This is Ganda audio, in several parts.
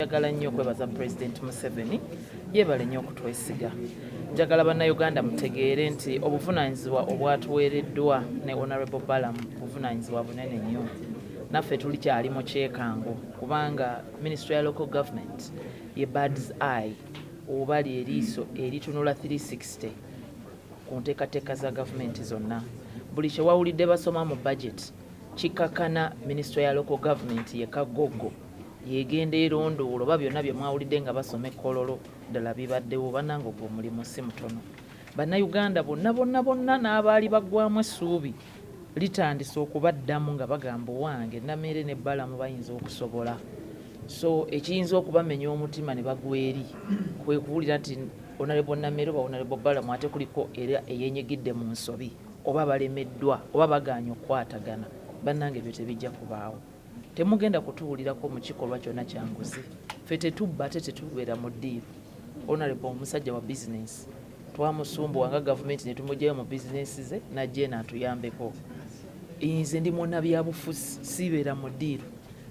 Njagala nnyo okwebaza Pulezidenti Museveni yeebale nnyo okutwesiga. Njagala Bannayuganda mutegeere nti obuvunaanyizibwa obwatuweereddwa ne Honorable Balaam buvunaanyizibwa bunene nnyo. Naffe tulikyali mu kyekango kubanga Minisitule ya Local Government ye Birds Eye oba lyeriiso eritunula 360 ku nteekateeka za gavumenti zonna. Buli kye wawulidde basoma mu bajeti kikakana Minisitule ya Local Government ye kagoggo. yegenda elondoola oba byonna byemwawulidde nga basoma e Kololo ddala bibaddewo, banange ogwo omulimu ssi mutono. Bannayuganda bonna bonna bonna n'abaali baggwamu essuubi litandise okubaddamu nga bagamba owange Nameere ne Balamu bayinza okusobola so ekiyinza okubamenya omutima ne bagwa eri kwe kuwulira nti onalebo Nameere oba onalebo Balamu ate kuliko era eyenyigidde mu nsobi oba balemeddwa oba bagaanye okukwatagana bannange ebyo tebijja kubaawo. Temugenda kutuwulirako mu kikolwa kyona kya nguzi. Ffe tetubba ate tetubeera mu ddiiru. Honourable musajja wa business. Twamusumbuwa nga gavumenti ne tumugyayo mu business ze n'ajja eno atuyambeko. Nze ndi munnabyabufuzi siibeera mu ddiiru.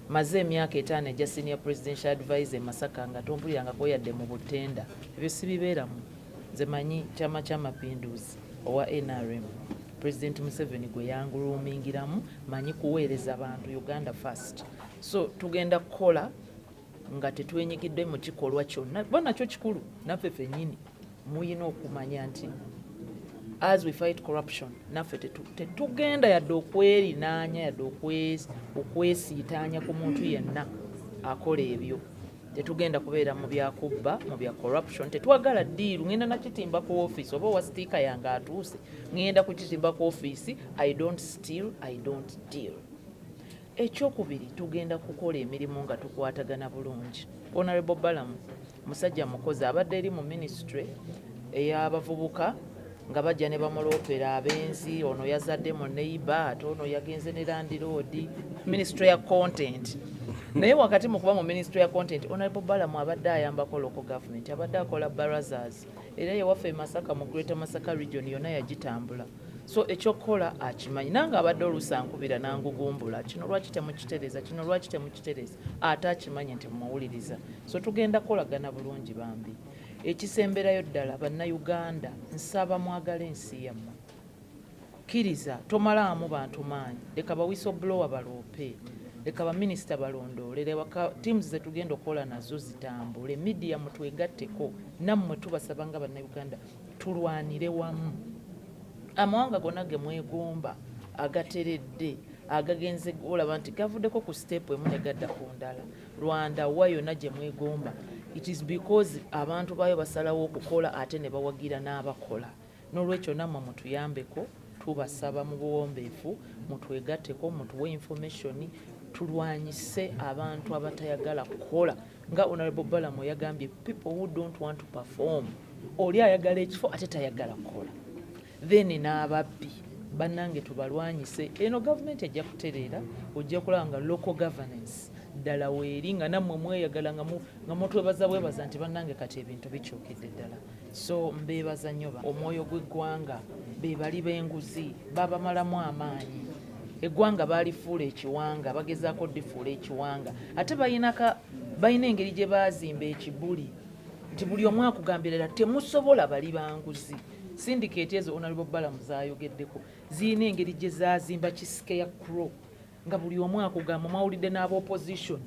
Mmaze emyaka etaano egya Senior Presidential Adviser e Masaka nga tompulirangako yadde mu buttenda. Ebyo sibibeeramu. Nze manyi Kyama kya Mapinduuzi owa nrm Pulezidenti Museveni gwe yanguluumingiramu manyi kuweereza bantu uganda first so tugenda kukola nga tetwenyigidde mu kikolwa kyonna kuba nakyo kikulu naffe fenyini muyina okumanya nti as we fight corruption naffe tetugenda yadde okwerinaanya yadde okwesiitaanya ku muntu yenna akola ebyo Tetugenda kubeera mu bya kubba, mu bya corruption. Tetwagala ddiiru. Ngenda na kitimba ku ofiisi oba owa sitiika yange atuuse, ngenda kukitimba ku ofiisi. I don't steal, I don't deal. Ekyokubiri tugenda kukola emirimu nga tukwatagana bulungi. Honourable Balamu musajja mukozi abadde eri mu minisitule ey'abavubuka. nga bajja ne bamuloopera abenzi ono yazadde mu neiba ate ono yagenze ne landiroodi minisitule ya content naye wakati mu kuba mu minisitule ya content onalebo balamu abadde ayambako local government abadde akola barazas era yewaffe e masaka mu greater masaka region yonna yagitambula so ekyokukola akimanyi nange abadde oluusi ankubira nangugumbula kino lwaki temukitereza kino lwaki temukitereza ate akimanyi nti mumuwuliriza so tugenda kukolagana bulungi bambi Ekisemberayo ddala bannayuganda nsaba mwagale ensi yammwe. Kkiriza tomalaamu bantu maanyi. Leka ba whistleblower baloope. Leka ba minisita balondoole. Leka teams ze tugenda okukola nazo zitambule. Media mutwegatteko nammwe tubasaba nga bannayuganda tulwanire wamu. Amawanga gonna ge mwegomba agateredde agagenze olaba nti gavuddeko ku siteepu emu ne gadda ku ndala. Rwanda wa yona gyemwegomba it is because abantu bayo basalawo okukola ate nebawagira n'abakola nolwekyo namwe mutuyambeko tubasaba mubuwombefu mutwegateko mutuwe information tulwanyise abantu abatayagala kukola nga honorable balamu yagambye people who don't want to perform oli ayagala ekifo ate tayagala kukola then n'ababbi bannange tubalwanyise eno gavumenti ejja kutereera ojja kulaba nga local governance ddala weeri nga nammwe mweyagala nga mutwebaza bwebaza nti bannange kati ebintu bikyukidde ddala so mbeebaza nnyo omwoyo gw'eggwanga bebali b'enguzi babamalamu amaanyi eggwanga baalifuula ekiwanga bagezaako difuula ekiwanga ate balinaka balina engeri gye baazimba ekibuli nti buli omu akugambirira temusobola bali banguzi Sindikeeti ezo Honourable Balaam z'ayogeddeko zirina engeri gye zaazimba ki scarecrow nga buli omu akugamba, mwawulidde n'aba opposition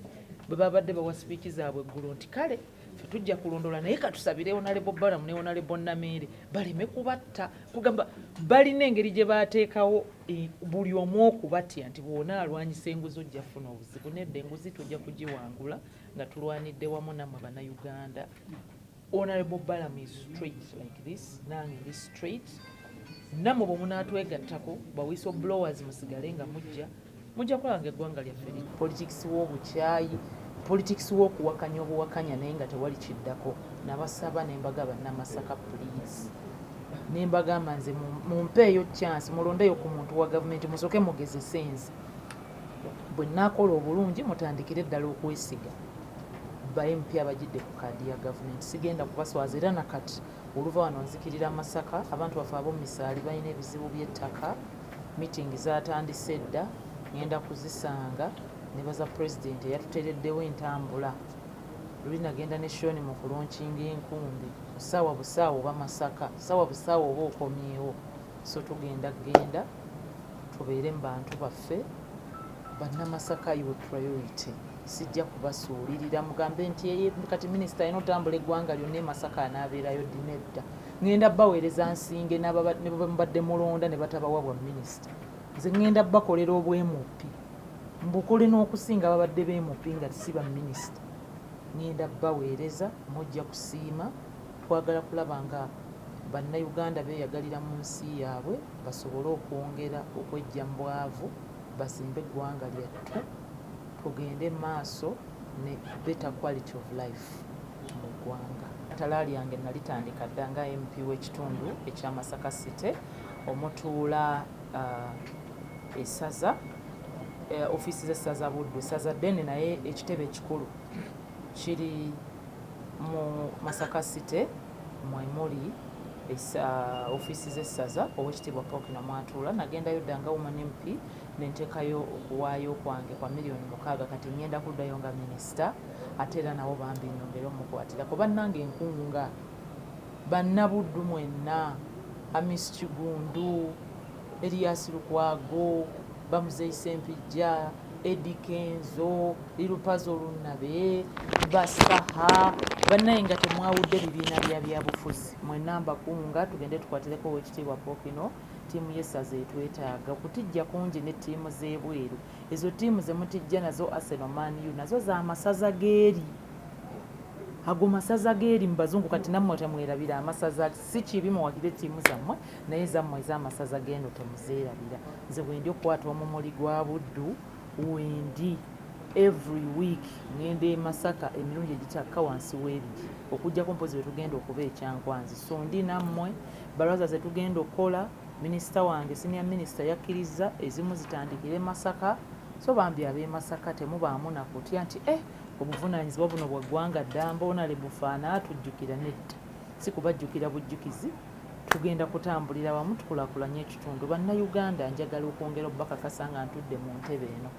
bwe baabadde bawa sipiiki zaabwe eggulo nti kale ffe tujja kulondoola naye katusabire Honourable Balaam ne Honourable Nameere baleme kubatta. Kugamba balina engeri gye baateekawo e, buli omu okubatya nti bw'ona alwanyisa enguzi ojja kufuna obuzibu. Nedda enguzi tujja kugiwangula nga tulwanidde wamu nammwe Bannayuganda. Honorable Balaam is straight like this, nange ndi straight. Namwe bwe munaatwegattako ba whistle blowers musigale nga mujja mujja kulaba nga eggwanga lyaffe li politics w'obukyayi politics w'okuwakanya obuwakanya naye nga tewali kiddako nabasaba nembaga bannamasaka please nembagamba nze mumpeeyo chance mulondeyo ku muntu wa gavumenti musooke mugezese nze bwe naakola obulungi mutandikire ddala okwesiga Ba MP abajidde ku card ya government sigenda kubaswaza era nakati oluva wano nzikirira masaka abantu baffe abomumisaali balina ebizibu bye ttaka meeting zatandise dda ngenda kuzisanga nebaza president eyatutereddewo entambula luli nagenda ne shoni mu kulonkinga enkumbi sawa busawa oba masaka sawa busawa oba okomyewo so tugenda genda Tubeere mu bantu baffe. Bannamasaka your priority. Sijja kubasuulirira mugambe nti eye kati minisita alina otambula eggwanga lyonna e Masaka anaabeerayo ddi nedda. Ngenda baweereza nsinge ne bwe mubadde mulonda ne batabawa bwa minisita. Nze ngenda bakolera obwemupi mbukole n'okusinga ababadde beemupi nga si baminisita. Ngenda baweereza mujja kusiima Twagala kulaba nga Bannayuganda beeyagalira mu nsi yaabwe basobole okwongera okweggya mu bwavu bazimbe eggwanga lyattu tugende mu maaso ne better quality of life mu ggwanga. Ettala lyange nalitandika dda nga MP w'ekitundu ekya Masaka City omutuula uh, esaza uh, ofiisi z'essaza Buddu, essaza ddene naye ekitebe ekikulu kiri Mu Masaka City mwe muli ofiisi z'essaza Oweekitiibwa Pookino mw'atuula. Nagendayo dda nga Woman MP ne nteekayo okuwaayo kwange kwa million mukaaga kati ng'enda kuddayo nga minisita ate era nawo bambi nnyongere omukwatirako. Bannange nkunga Bannabuddu mwenna, Hamis Kigundu, Erias Lukwago, Bamuzeeyi Ssempijja, Eddie Kenzo, Lil Pazo Lunabe, Basaha bannaye nga temwawudde bibiina bya byabufuzi mwenna mbakunga tugende tukwatireko owekitiibwa Pokino ttiimu y'essaza etwetaaga okutijja kungi ne ttiimu z'ebweru ezo ttiimu ze mutijja nazo Arsenal Man U nazo za masaza g'eri ago masaza g'eri mu bazungu kati nammwe temwerabira amasaza si kibi muwagire ttiimu zammwe naye zammwe ez'amasaza g'eno temuzeerabira nze wendi okukwata omumuli gwa buddu wendi every week ngenda e masaka emirundi egitakka wansi w'ebiri okujjako mpozi wetugenda okuba ekyankwanzi so ndi nammwe baraza zetugenda okukola minisita wange sinia minisita yakkirizza ezimu zitandikire masaka so bambi ab'emasaka temubaamu nakutya nti e eh, obuvunaanyizibwa buno bwa ggwanga ddamba onalebufaana atujjukira nedda Si kubajjukira bujjukizi, tugenda kutambulira wamu tukulakulanye ekitundu. Bannayuganda njagala okwongera okubakakasa nga ntudde mu ntebe eno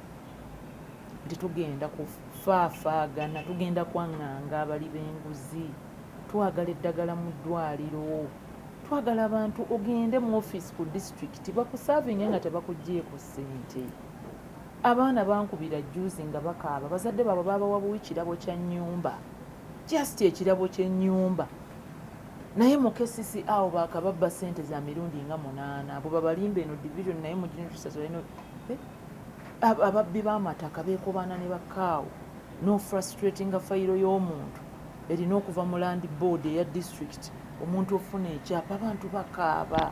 nti tugenda kufaafaagana, tugenda kwang'anga abali b'enguzi, twagala eddagala mu ddwaliro, twagala abantu ogende mu ofiisi ku disitulikiti bakusaavinge nga tebakuggyeeko ssente. Abaana bankubira jjuuzi nga bakaaba, bazadde baabwe baabawa buwi kirabo kya nnyumba. Just ekirabo kyenyumba. Naye mu kcca awo bakababba sente za mirundi nga munana abo babalimba eno division naye mu junior teachers balina eh, ababbi bamataka bekobaana ne bakaawo no frustratinga fayiro y'omuntu erina okuva mu land board eya district omuntu ofuna ekyapa abantu bakaaba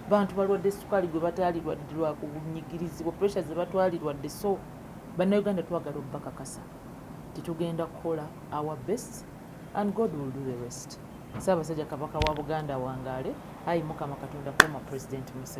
bantu balwadde sukaali gwe bataalirwadde lwakunyigirizibwa pressure ze batwalirwadde so bannayuganda twagala obubakakasa nti tugenda kukola our best and God will do the rest. Ssaabasajja Kabaka wa Buganda awangaale, Ayi Mukama Katonda former President Museveni.